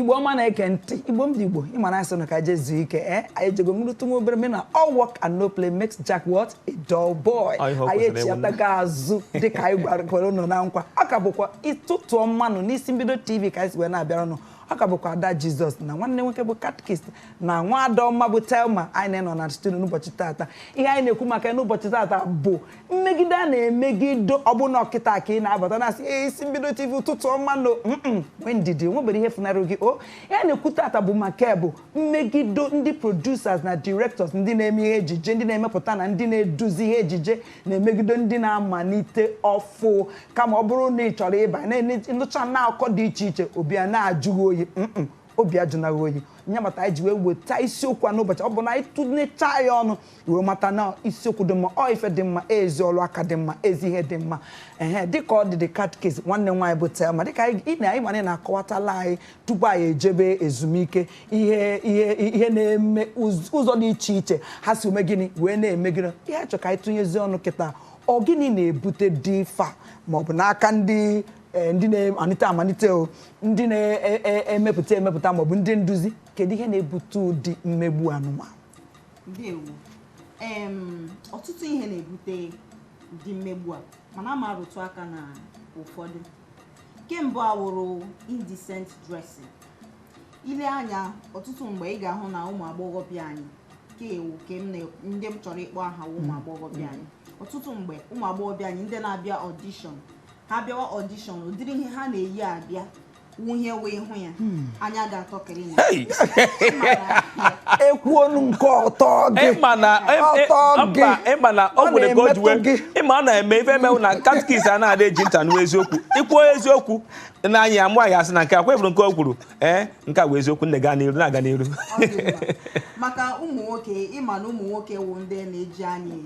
igbo ọma na-ege ntị igbo m ndị igbo ịma na anyị sị ụnụ ka anyị je zuo ike e eh? anyị ejego ṅụrụtụ nwa obere maka na all work and no play makes Jack what a dull boy anyị echiatago azụ dịka anyị kwere ụnụ na nkwa ọ ka bụkwa ụtụtụ ọma nụ n'isi mbido tv ka anyị si wee na-abịara ụnụ ọ ka bụkwa ada jizọs na nwanne nwoke bụ catechist na nwa ada ọma bụ thelma anyị na ya nọ na studio n'ụbọchị tata ihe anyị na-ekwu maka ya n'ụbọchị tata bụ mmegido a na-emegido ọ bụrụ na ọ kịta ka ị na-abata na-asị "Ee, isi mbido tv ụtụtụ ọma nụ mm-mm, nwee ndidi o nwebero ihe funarị gị o ihe anyị na-ekwu tata bụ maka ya bụ mmegido ndị producers na directors ndị na-eme ihe ejije ndị na-emepụta na ndị na-eduzi ihe ejije na-emegido ndị na-amalite ọfụ kama ọ bụrụ na ị chọrọ ịba nụcha na akụkọ dị iche iche obi a na-ajụ gị oyi mm obi ajụna gị oyi nya mata anyị ji wee weta isiokwu a n'ụbọchị a ọ bụ na anyị tụnyecha ya ọnụ wee mata na isiokwu dị mma ọ ife dị mma ezi ọrụ aka dị mma ezi ihe dị mma ehe dịka ọ dị the catechist nwanne m nwaanyị bụ thelma dịka anyị- ị na- anyị ma na ị na-akọwatala anyị tupu anyị ejebe ezumike ihe ihe ihe na-eme ụz- ụzọ dị iche iche ha si eme gịnị wee na-eme gịnị ihe a chọrọ ka anyị tụnyezi ọnụ kịta ọ gịnị na-ebute ụdị ife a maọbụ n'aka ndị eh, ndị na-amalite amalite o ndị na-emepụta emepụta maọbụ ndị nduzi kedu ihe na-ebute ụdị mmegbu anụmanụ ndewo em ọtụtụ ihe na-ebute ụdị mmegbu a mana aga m arụtụ aka na ụfọdụ nke mbụ awụrụ indecent dressing i lee anya ọtụtụ mgbe ị ga-ahụ na ụmụ agbọghọbịa anyị ka ewu ka m na ndị m chọrọ ịkpọ aha wụ ụmụ agbọghọbịa anyị ọtụtụ mgbe ụmụ agbọghọbịa anyị ndị na-abịa audition ha bịawa audition ụdịrị ihe ha na-eyi abịa wụnyewe ihu ya hmm. anya ga-atọ ekwu onu nke ọtọ gị ịma na o nwere ka o jiwe ịma ọ na-eme ife emewu na catechist a na-adị eji nta nụ eziokwu i kwuo eziokwu na anyị amụ anyị asị na nke akwa efuru nke o kwuru ee eh, nke a bụ eziokwu nne gaa n'iru na-aga n'iru maka ụmụ nwoke ịma na ụmụ nwoke wụ ndị na-eji anya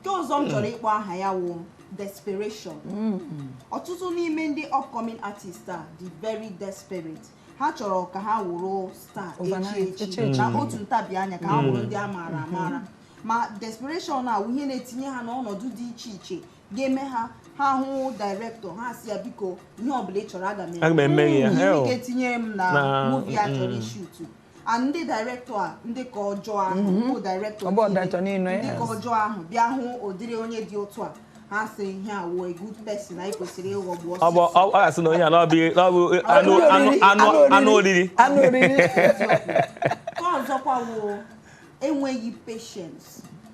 nke ọzọ m chọrọ ịkpọ aha ya wụ desperation ọtụtụ n'ime ndị upcoming artist a dị very desperate ha chọrọ ka ha wụrụ star echi Overnight, echi echi. na otu ntabi anya ka ha wụrụ ndị a maara amara ma desperation a wụ ihe na-etinye ha n'ọnọdụ dị iche iche ga-eme ha ha hụ director ha asị ya biko ihe ọbụla ị chọrọ aga m Aga m eme gị ya. Ihe ị Hei. ga-etinyere m na Na- movie a chọrọ mm. ishutu and ndị director a ndị nke ọjọọ ahụ mhm. bụ director ndị nke ọjọọ ahụ bịa hụ ụdịrị onye dị otu a ha sị ihe a wụ good person anyị kwesịrị ịghọgbu ọsọ ọ ga-asị na onye a na ọ bụ anụ oriri nke ọzọkwa wụ enweghị patience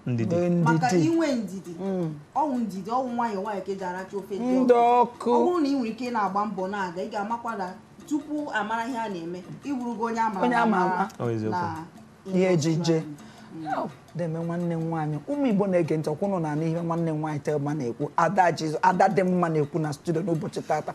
ndidi maka inwe ndidi mm. ọ wụ ndidi ọ wụ nwayọọ nwayọọ ka e ji aracha ofe dị ọkụ ọ bụrụ na ị nwere ike na-agba mbọ na-aga ị ga-amakwa na tupu a mara ihe a na-eme ị wụrụgo onye ama onye a ma ama na ihe ejije deme nwanne m nwaanyị ụmụ Igbo na-ege ntị ọ kwa unu na-anụ ihe nwanne m nwaanyị Thelma na-ekwu ada jizo ada dị mma na-ekwu na studio n'ụbọchị tata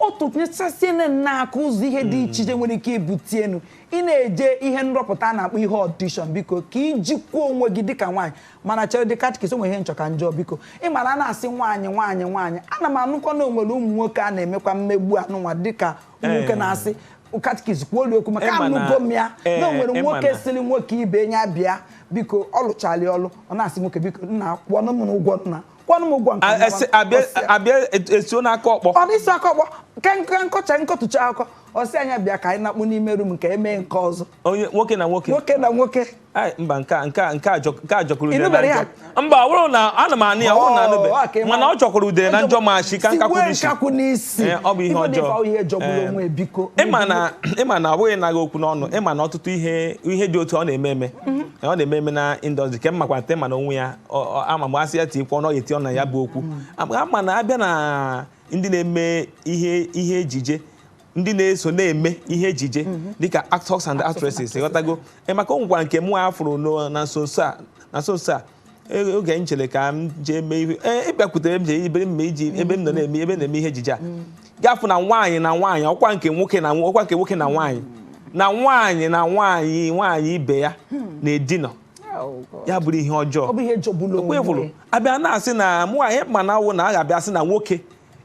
ọ tụnyesasịa anyị n'aka ụzọ ihe dị iche iche nwere ike ibutenụ ị na-eje ihe nrọpụta a na-akpọ ihe audition biko ka i jikwa onwe gị dịka nwaanyị mana cheredị catechist o nwere ihe m chọ ka m jụọ biko ị mara a na-asị nwaanyị nwaanyị nwaanyị ana m anụkwa na o nwere ụmụ nwoke a na-emekwa mmegbu anụnwa dịka ụmụ nwoke Eh. na-asị catechist kwuo olu okwu maka Ịma na- anụgo m ya na eh, o nwere ịma nwoke na- sịrị nwoke ibe ya bịa biko ọ lụchala ọlụ ọ na-asị nwoke biko nna kwụọnụ m ụgwọ nna kwụọnụ m ụgwọ nke A- nna esi- m." abịa- Ọ sị- abịa et- esuo n'aka ọkpọ ọ dịsị aka ọkpọ ka nka nkọcha nkọtụcha akọ ọ sị nya bịa ka anyị nakpu n'ime room ka e mee nke ọzọ onye nwoke na nwoke nwoke na nwoke Ai, mba nke a- nke a- nke a jọ- nke a jọgburu udele na Ị nụbere ya? njọ mba ọ bụrụ na ana m anụ ya ọ bụrụ na Oh, anụbe okay, mana ma- ọ jọgburu udele na njọ ma sika nkakwụ Sigbuo n'isi nkakwụ n'isi Ee, ọ bụ ihe Ife dị ọjọọ. ife ihe jọgburu Ee. onwe biko ị ma na ị ma na ọ bụghị naanị okwu n'ọnụ ị ma na ọtụtụ ihe ihe dị otu ọ na-eme eme ọ na-eme eme na industry ke mmakwa nte ma na onwe ya ọ- ọ- ama mgbe asị ya ti kwuo na ọ ga-eti ọnụ na ya bụ okwu mana a bịa na ndị na-eme ihe ihe ejije ndị na-eso na-eme ihe ejije mhm. dịka actors and actresses ị ghọtago e, maka o nwekwara nke mụwa fụrụ na nso nso a na nso nso a e, oge m chere ka m jee mee ihe e, ịbịakwutere m jee ebe m jee ebe m nọ mhm. na-eme ebe na-eme ihe ejije a mhm. ga fụ na nwaanyị na nwaanyị ọ kwa nke nwoke na ọ kwa nke nwoke na nwaanyị na nwaanyị na nwaanyị nwaanyị ibe ya hmm. na-edinọ Oh, ya bụrụ ihe ọjọọ okwe bụrụ a bịa na-asị na ihe anyị ma na-awụ na a ga-abịa sị na nwoke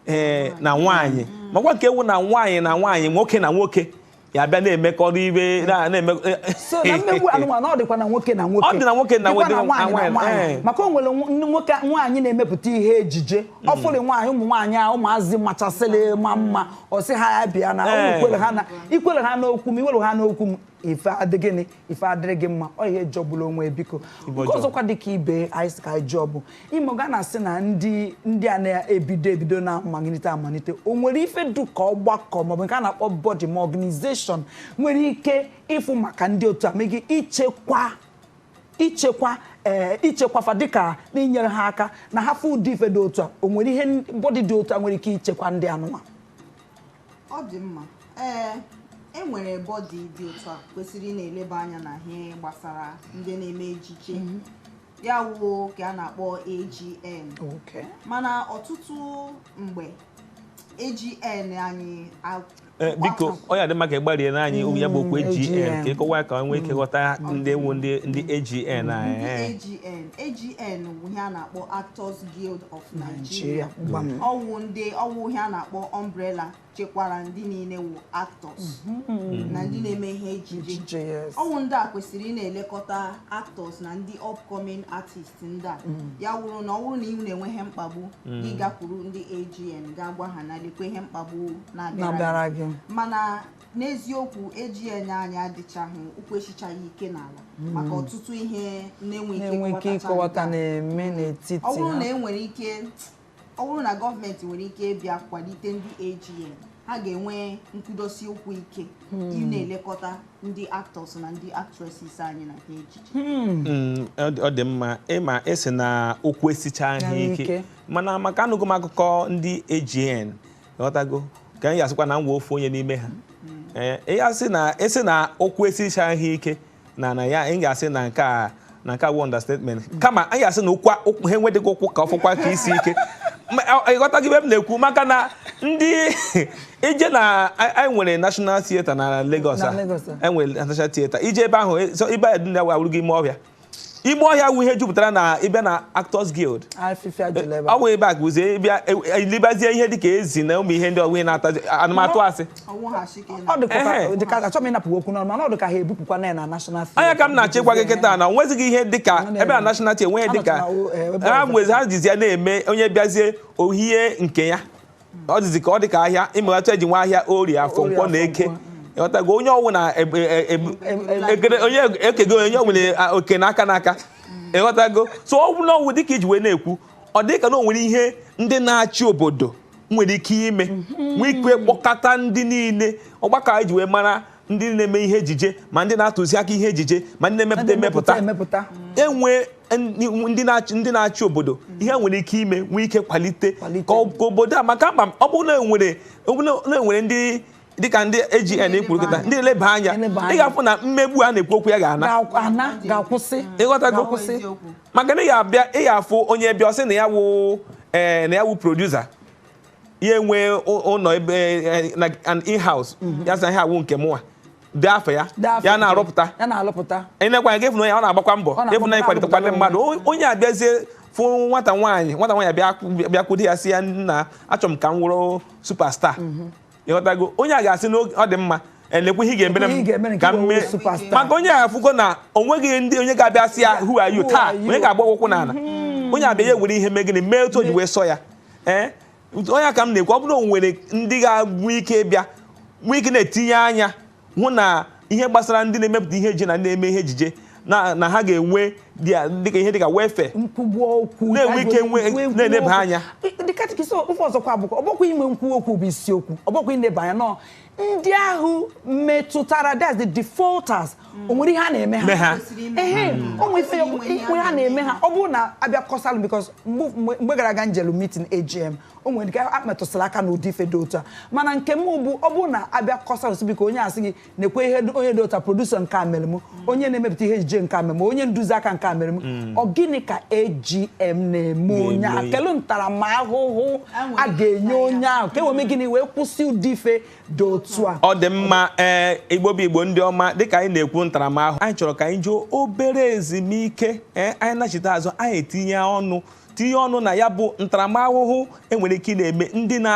ee eh, na nwaanyị makwa nke a wụ na nwaanyị na nwaanyị nwoke na nwoke ya bịa na-emekọrọ ibe na-eme eh, eh. mmegbu anụnwa ọ dịkwa na nwoke na nwoke ọ dị na nwoke na nwoke na nwaanyị maka o nwere nwoke nwaanyị na-emepụta ihe ejije hmm. ọ fụrụ nwaanyị ụmụ nwaanyị a ụmụazị machasịrị ma mma ọ sị ha ya bịa na ikwere ha n'okwu m iwere ha n'okwu m ife adịghị ife adịrị gị mma ọ ihe jọgburu onwe ya, biko Igbo nke jọgbụ. ọzọkwa dị ka ibe anyị sị ka anyị jụọ bụ ị ma ka a na-asị na ndị ndị a na-ebido ebido na-amalite amalite o nwere ife dụ ka ọgbakọ maọbụ nke a na-akpọ body ma organization nwere ike ịfụ maka ndị otu a megị ichekwa ichekwa ee ichekwafa dịka n'inyere ha aka na ha fụ ụdị ife dị otu a o nwere ihe body dị otu a nwere ike ichekwa ndị anụnwa ọ dị mma ee e nwere body dị otu a kwesịrị ị na-eleba anya na ihe gbasara ndị na-eme ejije mhm. ya wụ ka a na-akpọ AGN mana ọtụtụ mgbe AGN anyị Eh, biko ọ ya-adị mma ka ị gbarie na anyị ya bụ okwu AGN mm, ka ị kọwaa ka nwee ike ghọta mm. ndị wụ ndị AGN anyị AGN AGN bụ ihe a na-akpọ Actors Guild of Nigeria gbam ọ wụ ndị ọ wụ ihe a na-akpọ umbrella chekwara ndị niile wụ actors mm-hmm. na ndị na-eme ihe ejije ọ wụ ndị a kwesịrị ị na-elekọta actors na ndị upcoming artists ndị a mm. ya wụrụ na ọ wụrụ na ị na-enwe ihe mkpagbu mm. gị gakwuru ndị AGN gaa gwa ha na lekwa ihe mkpagbu na-abịara gị mana n'eziokwu AGN anyị adịchaghị ụkwụ esichaghị ike n'ala hmm. maka ọtụtụ ihe na-enweghị ike ịkọwata na-eme n'etiti ọ bụrụ na enwere ike ọ bụrụ na gọọmenti nwere ike ịbịa kwalite ndị AGN ha ga-enwe nkwudosi ụkwụ ike hmm. ị na-elekọta ndị actors na ndị actresses anyị na ihe ejije hmm. ọ dị mma ị ma ị sị na ụkwụ esichaghị ike mana maka anụgo m akụkọ ndị AGN ghọtago ka anyị asịkwa na m wụ ofu onye n'ime ha ee ya sị na ị sị na ụkwụ esichaghị ike na na ya anyị ga-asị na nke a na nke a wụ understatement kama anyị asị na ụkwa ụkwụ ha enwedịghị ụkwụ ka ọ fọkwa ka isi ike Ma, ọ- ị ghọtago ebe m na-ekwu maka na ndị ije na anyị anyị nwere national theatre na Lagos Na a Lagos a. enwere national theatre i jee ebe ahụ e- so ebe a dị na awụrụgo ime ọhịa ime ọhịa wụ ihe jupụtara na ị bịa na Actors Guild ọ wụ ebe a ka uzie ịbịa elibazie e, e, ihe dịka ezi na ụmụ ihe ndị ọgwụ na-ata anụmatụ asị anya ka m na-achọ ịgwa gị kịta na o nwezighị ihe dịka ebe na National Theatre enweghị dịka ha nwezi ha jizi ya na-eme onye bịazie o hie nke ya ọ dịzi ka ọ dị ka ahịa ị mago otu e ji nwee ahịa Orie Afọ Orie Nkwọ Afọ na Eke Nkwọ. ịghọtago onye ọwụna ebe- e- e- Em- em- ekele onye ekego onye nwere a, oke n'aka n'aka ịghọtago so ọ bụrụ na ọ wụ dịka i ji wee na-ekwu ọ dị ka na o nwere ihe ndị na-achị obodo nwere ike ime nwee ike kpọkọta ndị niile ọgbakọ anyị ji wee mara ndị na-eme ihe ejije ma ndị na-atụzi aka ihe ejije ma ndị na-emepụta emepụta emepụta e nwee ndị na-achị ndị na-achị obodo ihe nwere ike ime nwee ike kwalite Kwalite. ka ọ- ka obodo a makaa mma ọ bụrụ na enwere ọ bụrụ na enwere ndị dịka ndị AGN kwuru kịta ndị na-eleba anya Eleba anya. ị ga-afụ na mmegbu a na-ekwu okwu ya ga-ana Ga- ana ga-akwụsị ị ghọtago ga-akwụsị maka na ị ga-abịa ị ga-afụ onye bịa ọ sị na ya wụ ee na ya wụ producer ya enwee ụlọ ebe eh, like an in-house mhm. ya sị ihe a wụ nke mụnwa dị afọ ya ya na-arụpụta ya na-alụpụta ị na-ekwanye gị ịfụ na ọ na-agbakwa mbọ ịfụ na ịkwalitekwa ndị mmadụ onye abịazie fụ nwata nwaanyị nwata nwaanyị bịakwude ya sị ya nna achọrọ m ka m wụrụ superstar mhm. ị ghọtago onye a ga-asị na ọ dị mma elekwa ihe ị ga-emere m ka m mee maka onye a afụgo na o nweghị ndị onye ga-abịa sị ya who are you taa onye ga-agba ụkwụ n'ala mhm. onye abịa ya ewere ihe mee gịnị mee otu o ji wee sọ ya ee ọ nya ka m na-ekwu ọ bụrụ na o nwere ndị ga-enwe ike bịa nwee ike na-etinye anya hụ na ihe gbasara ndị na-emepụta ihe ejije na ndị na-eme ihe ejije na ha ga-enwe dịka ihe dịka welfare na-enwe ike na-eneba anya dịka ọzọkwa bụkwa ọ bụkwa ife nke bụ okwu bụ isiokwu ọ bụkwa ineba anya na ndị ahụ metụtara that's the defaulters o nwere ihe a na-eme ha Me ha. Kwesịrị ime ehe ha. o nwere ife Kwesịrị inwe ihe ihe a ha na-eme ha ọ bụrụ na a bịa kọsalụ because mgbe mgbe gara aga njelu meeting AGN o nwere ike emetụsịla aka n'ụdị ife dị otu a mana nke m bụ ọ bụrụ na a bịa kọsalụ sị biko onye asị gị nekwa ihe dị- onye dị otu a producer nke a mere m onye na-emepụta ihe ejije nke a mere m onye nduzi aka nke a mere m mm. ọ gịnị ka AGN na-eme onye ahụ kelu ntaramahụhụ a ga-enye onye ahụ ka e wee mee gịnị wee kwụsị ụdị ife dị otu a ọ dị mma ee eh, igbo bụ igbo ndị ọma dịka anyị na-ekwu ntaramahụhụ anyị chọrọ ka anyị jee obere ezumike ee eh, anyị nachite azụ anyị etinye ọnụ tinye ọnụ na ya bụ ntaramahụhụ e nwere ike ịna-eme ndị na